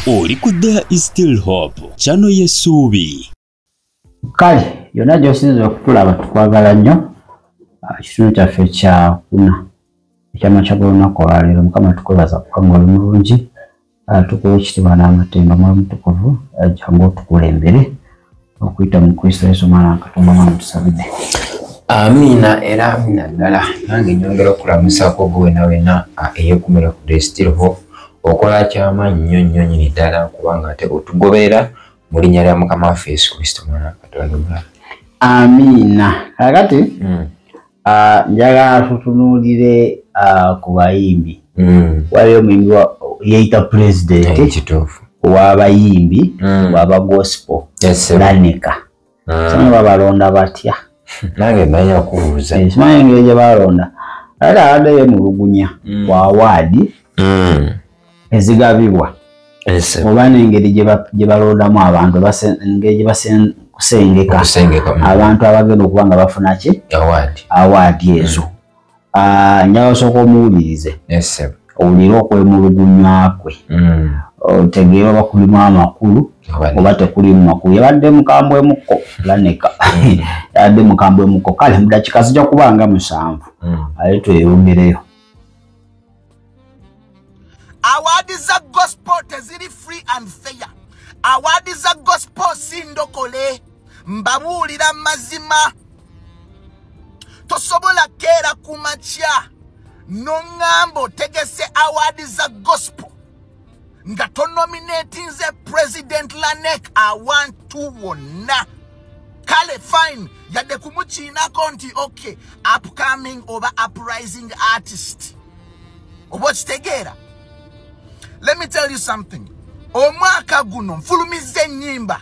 oli ku there is still hope kyano yesuubi kale yonna gyosinza okutulaba tukwagala nnyo ah, kitundu kyaffe kyakuna ekyamakya golunaku olwaleero mukama tukwebaza kubanga oli mulungi ah, tukuwa ekitibwa n'amatemba muli mutukuvu ah, jangu otukulembere okuyita mu kristo yesu mwana wakatonda mwana tusabide amiina era amiina ddala nange nyongera okulamusako gwe wena wena eyekumira ku destil ho okola kyamaanyi nnyo nnyo nyini ddala kubanga ate otugobeera mu linnya lya mukama waffe yesu kristo mwana wakatonda omulala amiina kakati mm. Ah, njagala tutunuulire ah, ku bayimbi mm. waliyo omuyimbi yeeyita pulezidenti eh, kituufu wabayimbi mm. waba gospel lanika ah. sanga babalonda batya nange manya kubuuza eh, simanyi engeri gye balonda ate abadde yemulugunya mm. ku awaadi ezigabibwa oba nengeri gyebalondamu abantu engeri gyebakusengeka mm. abantu abagenda okuba nga bafuna ki awaadi ezo mm. ah, njala osooka omuwulirize owulire okwemulugunya kwe mm. otegeere oba kulimu amakulu oba tekulimu makulu yabadde mukambwe mukko laneka yabadde mukambwe mukko kale mudakika zijja kuba nga musanvu ale tweyogereyo awaadi za gospel teziri free and fair awaadi za gospel si ndokole mbabuulira mazima tosobola keera ku makya noŋŋamba otegese awaadi za gospel nga tonominatinze president lanek awantu wonna kale fine yadde kumukiinako nti ok upcoming oba uprising artist oba okitegeera let me tell you something omwaka guno nfulumizza ennyimba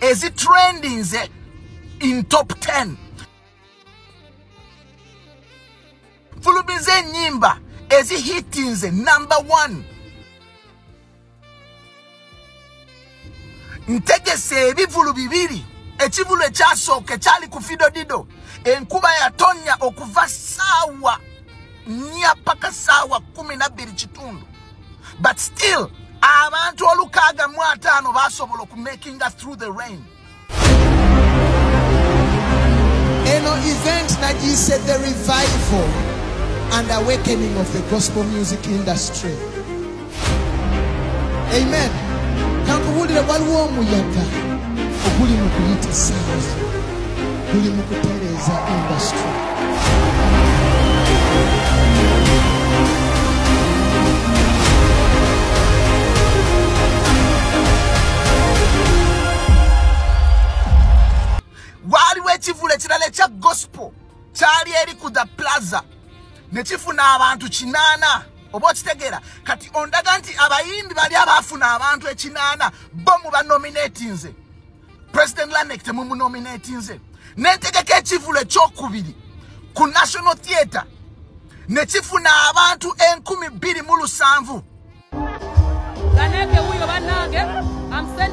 ezi trendinze in top 10 fulumiza enyimba ezi hitinze number 1 ntegesa ebivulu bibiri ekivulu ekyasooka ekyali ku fidodido enkuba yatonya okuva saawa nnya paka saawa kumi nabbiri kitundu but still abantu olukaaga mu ataano basobola okumakinga through the rain eno event nagiyise the revival and awakening of the gospel music industry amen kankubulire waliwo omuyaga oguli mu kuyita saazi guli mu kutereeza industry waaliwo ekivulu ekirala ekya gospel kyali eri ku the plaza ne kifuna abantu kinaana oba okitegeera kati ondaga nti abayimbi bali abaafuna abantu ekinaana bo mu banominatinze president lanek temumunominatinze nentegeka ekivulu ekyokubiri ku national theatre ne kifuna abantu enkumi bbiri mu lusanvu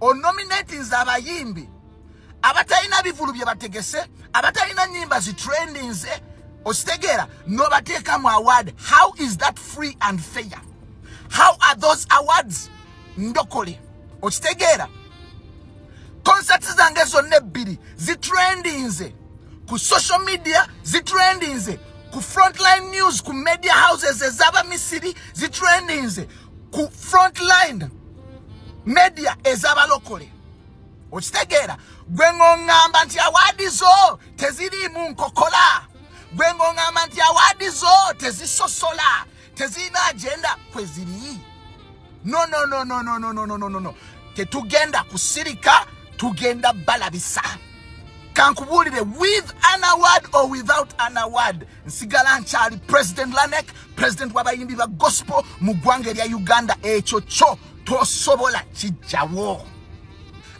onominatinze abayimbi abatalina bivulu bye bategese abatalina nyimba zitrendinze okitegeera nobateeka mu award how is that free and fair how are those awards ndokole okitegeera concerts zange zonna ebbiri zitrendinze ku social media zitrendinze ku frontline news ku media houses ezaba misiri zitrendinze ku front line media ezabalokole okitegeera gwe ng'oŋŋamba nti awaadi zo teziriimu nkokola gwe ng'oŋŋamba nti awaadi zo tezisosola tezirina agenda kwe ziri nononononononononono tetugenda kusirika tugenda balabisa kankubuulire with an award or without an award nsigala nkyali president lanek president wabayimbi ba gospel mu ggwanga erya uganda ekyo kyo tosobola kijjawo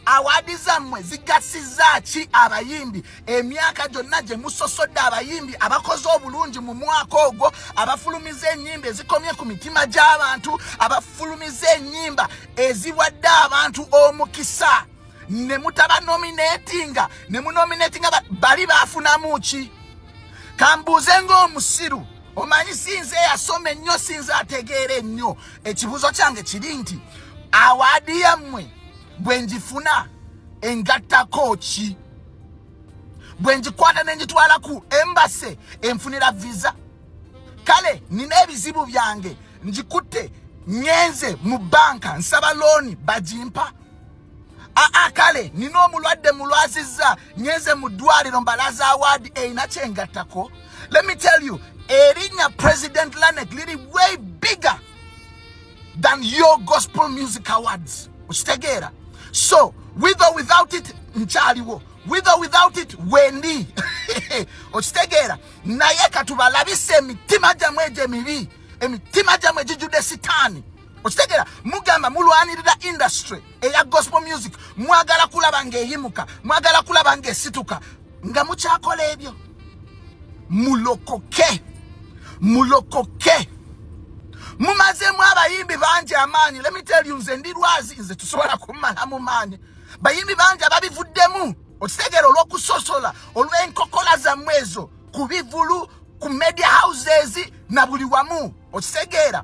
awaadi zammwe zigasiza ki abayimbi emyaka gyonna gye musosodde abayimbi abakoze obulungi mu mwaka ogwo abafulumiza enyimba ezikomye ku mitima gy'abantu abafulumiza enyimba eziwadde abantu omukisa ne mutaba nominatinga ne munominatinga bali bafunamu ki kambuuze ng'omusiru omanyi sinze eyasoma ennyo sinze ategeera ennyo ekibuuzo kyange kiri nti awaadi yammwe bwe ngifuna engattako ki bwe ngikwata ne ngitwala ku embase enfunira viza kale nina ebizibu byange ngikutte ngenze mu banka nsaba looni bagimpa aa kale nina omulwadde mulwazizza nyenze mu ddwaliro mbalaza awaadi erina kyengattako let me tell you erinya president lanek liri way bigger than your gospel music awards okitegeera so with or without it nkyaliwo with or without it wendi okitegeera naye katubalabisa emitima gyamwe egyo emibi emitima gyamwe gijjudde sitaani okitegera mugamba mulwanirira industry eya gospel music mwagala kulaba ngaeyimuka mwagala kulaba ngaesituka nga mukyakola ebyo mulokoke mulokoke mumazemu abayimbi bangi amaanyi lemiteli nze ndi lwazi nze tusobola kumala mu maanyi bayimbi bangi ababivuddemu okitegera olwokusosola olwenkokola zammwe ezo ku bivulu ku media houses na buli wamu okitegeera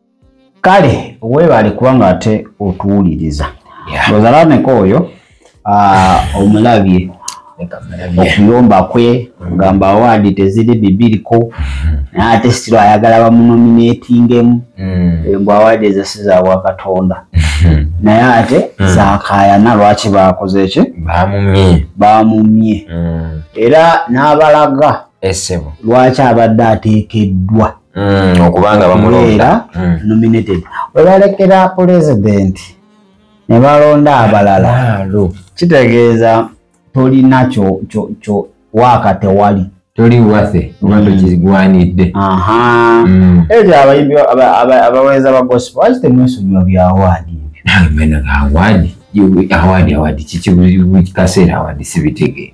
kale webale kubanga ate otuwuliriza ozalaneko oyo omulabye okuyomba kwe ogamba awaadi teziri bibiriko mm-hmm. naye ate sitiro ayagala bamunominatingemu mm. mbu awaadi ezasi zawa katonda mm-hmm. naye ate mm. zakayana lwaki bakoze ki bamumye mm. era n'abalaga lwaki abadde ateekeddwa mm, okubanga bamulonda mm. nominated webalekera president ne balonda abalala kitegeeza tolina kyo kyo kyo waaka tewali toli wafe oba mm. tokigwanidde mm. ekyo abayimbi abaweereza ba gospel waki temwesonyiwa bya awaadi ebyo awaadi awaadi awaadi kikikaseera awaadi sibitegeera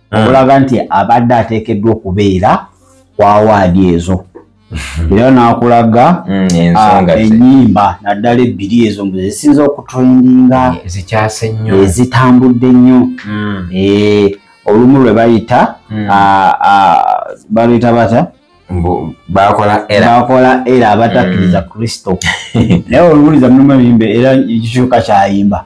ah. okulaga nti abadde ateekeddwa okubeera ku awaadi ezo era nakulaga mm, ah, enyimba naddala ebbiri ezo mbu zisinza okutrendinga ezitambudde nnyo mm. eh, olumu lwe bayita mm. ah, ah, baluyita bata bakola era abatakkiriza kristo naye oluwuliza mulimu ebimbe era ekikyuka kyayimba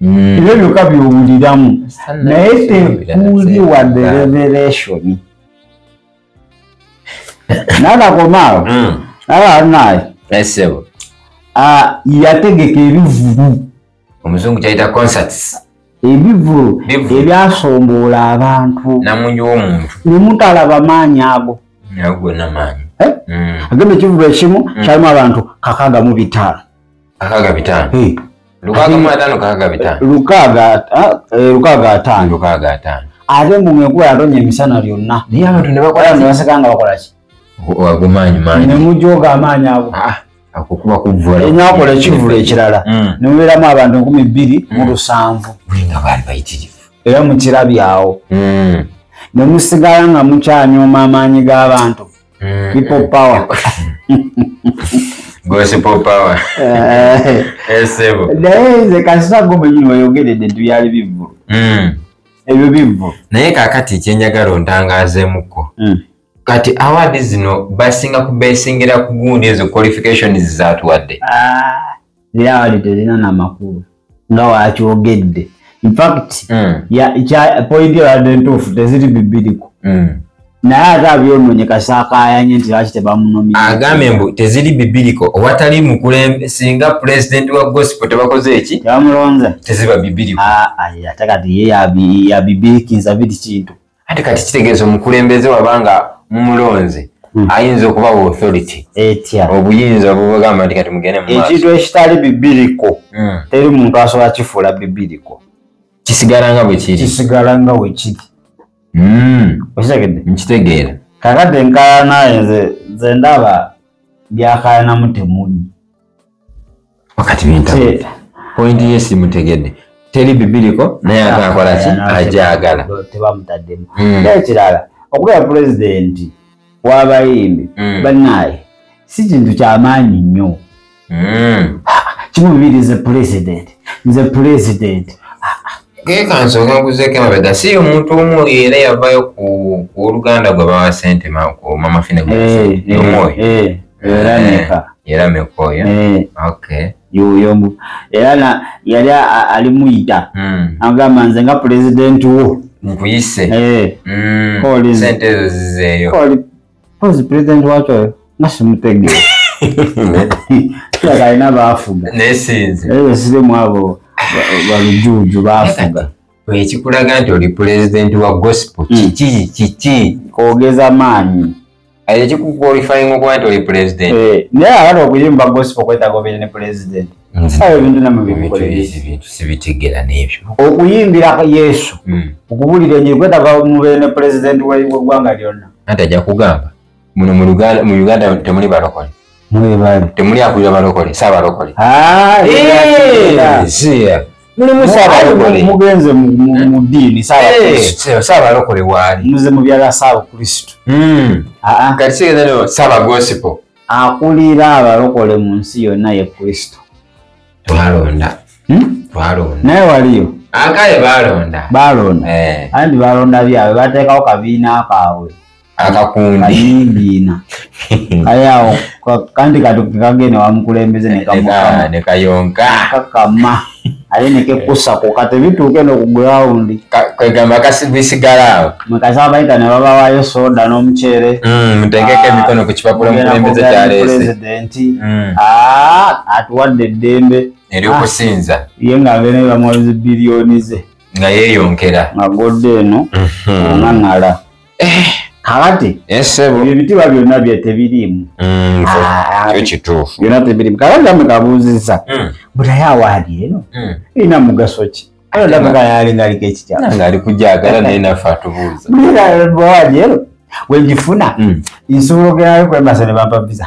mm. ebyo byokka byowuliramu naye tekuli wadde revelation nanakomaawo mm. alanaye esebo ah, yategeka ebivulu omuzungu kyayita concerts ebivulu ebyasomboola abantu namungi womuntu nemutalaba maanyi ago agwe namaanyi eh? mm. agenda ekivulu ekimu mm. kyalimu abantu kakagamu bitaano Akaga bitano. Hey. Lukaga mwa tano kaga bitano. Lukaga ah, eh, lukaga tano. Lukaga tano. Ate mu ngekuwa yatonye emisana lyonna. Naye abantu ne bakola ne basekanga bakola ki? Wagumanyi manyi. Ne mujoga amanyi ago. Ah, akukuba kuvula. Enyo akola ekivula ekirala. Mm. Ne muberamu abantu nkumi bbiri mu mm. lusanvu. Bulinga bali bayitirivu. Era mukirabyawo. Mm. Ne musigala nga mukyanyoma amaanyi g'abantu. Mm, people mm. power gossip power Eh, esebo naye nze kasita gwe mwenyini wayogeredde nti byali bivvulu Mm. ebyo bivvulu naye kakati kyenjagala ontangazemuko Mm. kati award zino basinga kubesingira ku gundi ezo qualifications zatuwadde Ah, reality terina na makulu nga wakyogedde infact mm. point yabadde ntuufu teziri bibiriko mm. naye ate abyononye kasakayanye nti lwaki tebamunoagambye mbu teziri bibiriko owatali mukulembe singa pulezidenti wa gospel tebakoze eki tebamulonza teziba bibiriko ah, ate kati ye yabibirikinza biri kintu ate kati kitegeeza omukulembeze wabanga mumulonze hmm. ayinza okuba wa authority etya obuyinza obubagamba nti kati mugende mu ekintu ekitali bibiriko hmm. teri muntu asobola kifuula bibiriko kisigala nga bwekiri kisigala nga wekiri hmm. okitegedde nkitegeera kakati enkalanaye nze ndaba byakayanamu temuli wakati binta point ye simutegedde teri bibiriko naye ate akola ki ajagala tebamutaddemu hmm. naye kirala okubera pulezidenti wabayimbi hmm. banaye si kintu kyamaanyi nnyo hmm. kimu bibiri nze pulezidenti nze pulezidenti gekansonga nkuzeko emabega si omuntu omu era yavayo ku oluganda gwe bawa sente mama fine gwe eh, eh, omwoyo eh. era eh, meka era meka oyo eh. okay yoyo mbu era na yali ali muyita hmm. agamba nze nga president wo nkuyise eh mm. koli sente ezo zizeeyo koli koli president wacho oyo nga simutege kila kalina bafuga naye sinzi eyo sirimu abo balujuju bafuga ekikulaga nti oli pulezidenti wa gospel hmm. kiki kiki ogeza maanyi aye kikukwalifying okuba nti oli pulezidenti eh, naye abala okuyimba gospel okwetaga obeere ne pulezidenti hmm. sawa ebintu namubintu sibitegera n'ebyo okuyimbira yesu hmm. okubuulira enjiri kwetaga mubeere ne pulezidenti w'eggwanga lyonna anti ajja kugamba muno mu Uganda mu Uganda temuli balokole mwe bali temuli akulira balokole sa balokole ah yeah yeah muli musa balokole mugenze mu mu dini sa balokole sa balokole wali muze mu byala sa kristo mm ah ah kati sigeza no sa ba gospel akulira abalokole mu nsi yonna ye kristo twalonda hmm? twalonda naye waliyo akaye balonda balonda eh. andi balonda byabwe batekawo kabiina kaabwe akakundi ayingiina kale awo ka- kandi katuke kagende wamukulembeze nekamukama nekayonka kakama ate nekekusa ku kati bituuke no ku gulawundi kwegamba kasibisigala awo mwekasaba bayita ne babawayo soda n'omuceere Mm, mutegeke Ah, emikono ku kipapula Mugenda omukulembeze kwogera ne kyaleese pulezidenti Mm. Ah, atuwadde eddembe ery'okusinza ye nga abeera bamuwabizi biliyoni ze nga yeeyonkera nga godde eno onaŋala kakati ebyo ebitiibwa byonna bye tebiriimu mm, ah, ah, kituufu byonna tebiriimu kakati ame kabuuzizza mm. butaye awaadi eno mm. irina mugaso ki aaalingaliko ekikyaali kujagala naye naffe atubuuza awaadi eno wegifuna nsobola ogerayo kwemasa ne bampa visa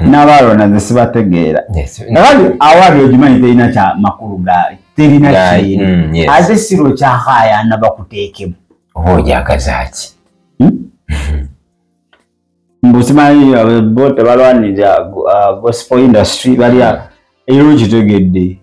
n'abaalonda nze sibategeera kakati awaali ogimanyi terina kya makulu gaali terina kiina mm, ate siro kyakayana bakuteekemu oba ojagazaki hmm? mbusimanyi eh, bo tebalwanirira eh, gospel industry balya era okitegedde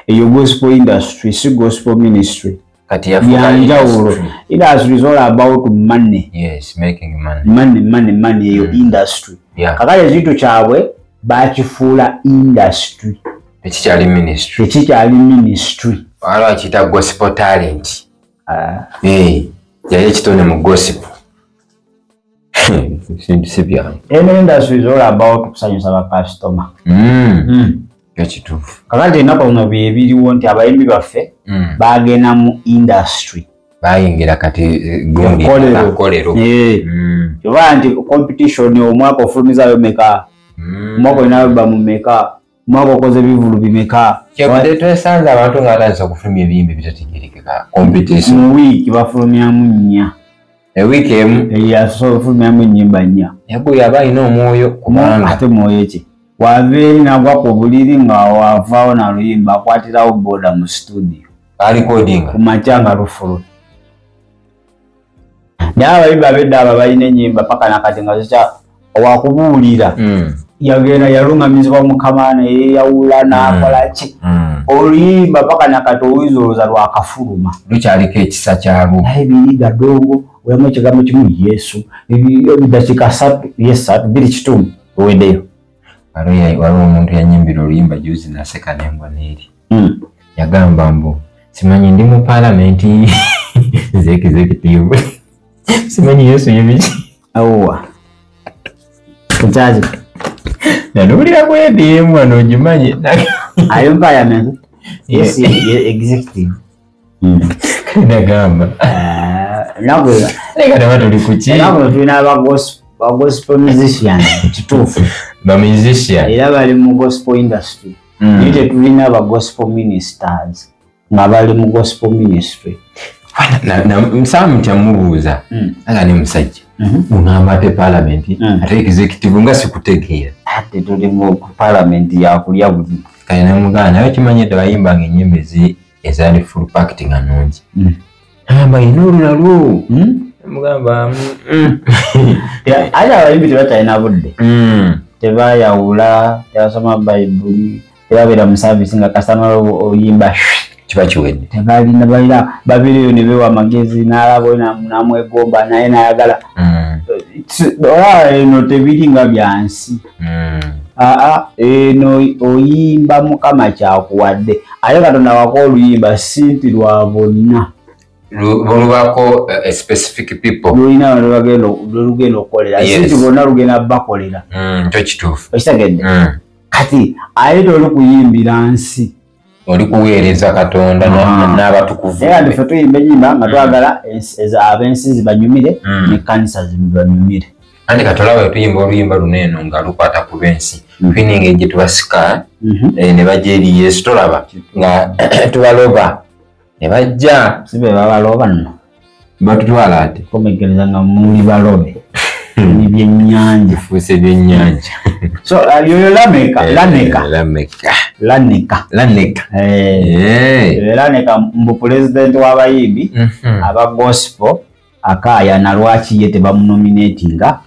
eyo gospel industry si gospel ministry kati yanjawulo industry is all about money yes making money money money money eyo mm. industry yeah. kakale ekintu kyabwe bakifuula industry tekikyali ministry tekikyali ministry waliwo akiyita gospel talent ah. yali ekitone mu gospel ebintu si byangu eno industry is all about kusanyusa bakasitoma hmm. hmm. ekituufu kakati enaku zino byebiriwo nti abayimbi baffe hmm. bagenda mu industry bayingira kati gondikolero eh, oba nti competition omwaka ofulumizayo meka omwaka olinayo bamumeka mwaka okoze bivulu bimeka kyekude twesanze abantu nga atandise okufulumya ebiyimba ebitategerekeka competition mu wiiki bafulumyamu nnya ewiiki emu eyasobola okufulumyamu ennyimba nnya yagu yaba alina omwoyo kubanga ate mwoyo ki wava eri nagwa ku buliri nga wavaawo naluyimba akwatirawo boda mu situdio alikodinga kumakya nga lufulumi naye abayimbi abedda abo balina enyimba paka nakati nga zikya owakubuulira hmm. yagenda yalungamizibwa mukama naye yawula hmm. nakola ki hmm. oluyimba paka nakati owuyiza oluza lwakafuluma lukyaliko ekisa kyalwo naye biriga dongo olamu ekigambo kimu yesu bidakika satu yesatu biri kitumu owedeyo waliwo omuntu yanyimbira oluyimba juzi naseka nembwa neeri hmm. yagamba mbu simanyi ndi mu palamenti zekizekitivu simanyi yesu yebiki awowa ekyazi nanowulira kwediemu anogimanyi ayo palamenti yesu executive ndagamba nagwe leka taba tuli kuki nagwe tulina ba gospel ba gospel musician kituufu ba musician era bali mu gospel industry mm. naye tetulina ba gospel ministers nga bali mu gospel ministry nsaba mutya mubuuza mm. aga ne musajja mm-hmm. ungamba ate palamenti mm. ate executive nga sikutegeera ate tuli mu palamenti yakulya buli kale namugana naye okimanyi tebayimbanga enyimba ezi ezaali full packed nga nungi mm. amba ina olulalwo mm? mugamba mm. ate abayimbi tebatalina budde tebayawula tebasoma bayibuli tebabeera mu saavisi nga kasitama oyimba kiba kiwedde tebalina balina babireyo ne bewa amagezi n'alabo namwegomba naye nayagala olaba eno tebiri nga byansi hmm. aa eno oyimba mukama kyakuwadde ate katonda wako oluyimba simpi lwa bonna lulubako eh, eh, specific people lulina lwelugenda okukolera sinti bonna lugenda bakolera hmm, kyo kituufu okitegedde hmm. kati ayeta oli kuyimbira nsi oli kuweereza katonda ah. n'abatukuvufe tuyimba enyimba nga twagala ab'ensi zibanyumire hmm. nekkanisa zibanyumire anti katolaba wetuyimba oluyimba luno eno nga lukwata ku lw'ensi hmm. twininga egye tubasika mhm. eh, ne baja eri yesu tolaba nga tubaloba ne bajja si be babalooba nno batutwala ate komegereza nga muli balobe hmm. ebyennyanja fuuse ebyennyanja so uh, yoyo lameka eh, laneka laneka laneka laneka eh. eh. mbu pulezidenti w'abayimbi mhm. aba gospel akaayana lwaki ye tebamunominatinga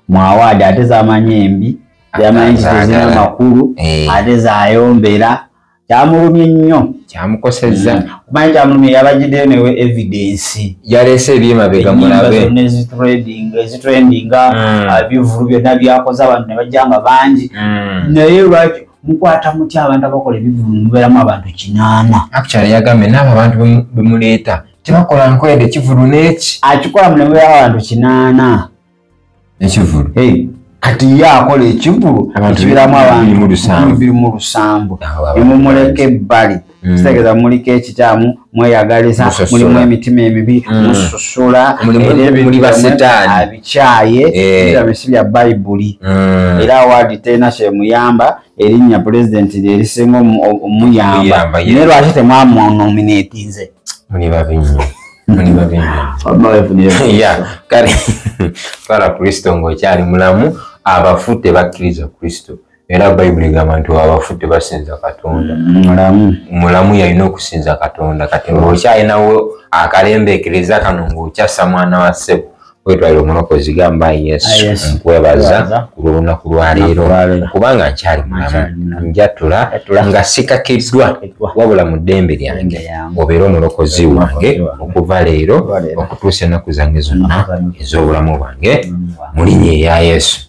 mu awaadi ate zamanyi embi yamanyi kitezina makulu ate zayombera kyamulumye nnyo kyamukosezza mm. omanyi kyamulumye yabajiddeyo newe evidensi yaleese ebyemabega mulabeezitrendinga mm. ah, bivulu byonna byakoze abantu ne bajja nga bangi mm. naye lwaki mukwata mutya abantu abakola ebivulu mubeeramu abantu kinaana actually yagambye naabo abantu bemuleeta tebakola nkwede kivulu neki akikola munemubeeramu abantu kinaana ekivulu kati ye akola ekivulu ekibiramu abantubirimu lusambu nemumuleka ebbali mm. kitegeeza muliko ekikyamu mweyagaliza mulimu emitima emibi mm. mususula abikyaye ebisi eh. bya bayibuli mm. era awaadi terina kyemuyamba erinnya pulezidenti lyerisinga omuyamba naye lwaki temwamunominatinze muli babi nnyo muli babi nnyo kale twala kristo ng'okyali mulamu abafu tebakkiriza kristo era bayibuli egamba nti abafu tebasinza katonda mm, mulamu yalina okusinza katonda kati ng'okyalinawo akalembeekereza kano ng'okyassa mwana wa ssebo wetwalira omulokozi gamba yesu ah, nkwebaza ku lw'olunaku lwaleero kubanga nkyali mulamu njatula nga sikakiddwa wabula mu ddembe lyange obeera omulokozi wange okuva leero okutuusa ennaku zange zonna ez'obulamu bwange mu linya eya yesu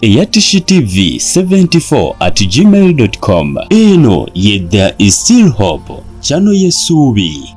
eya tv 74 at gmail.com eno ye there is still hope kyano yesuubi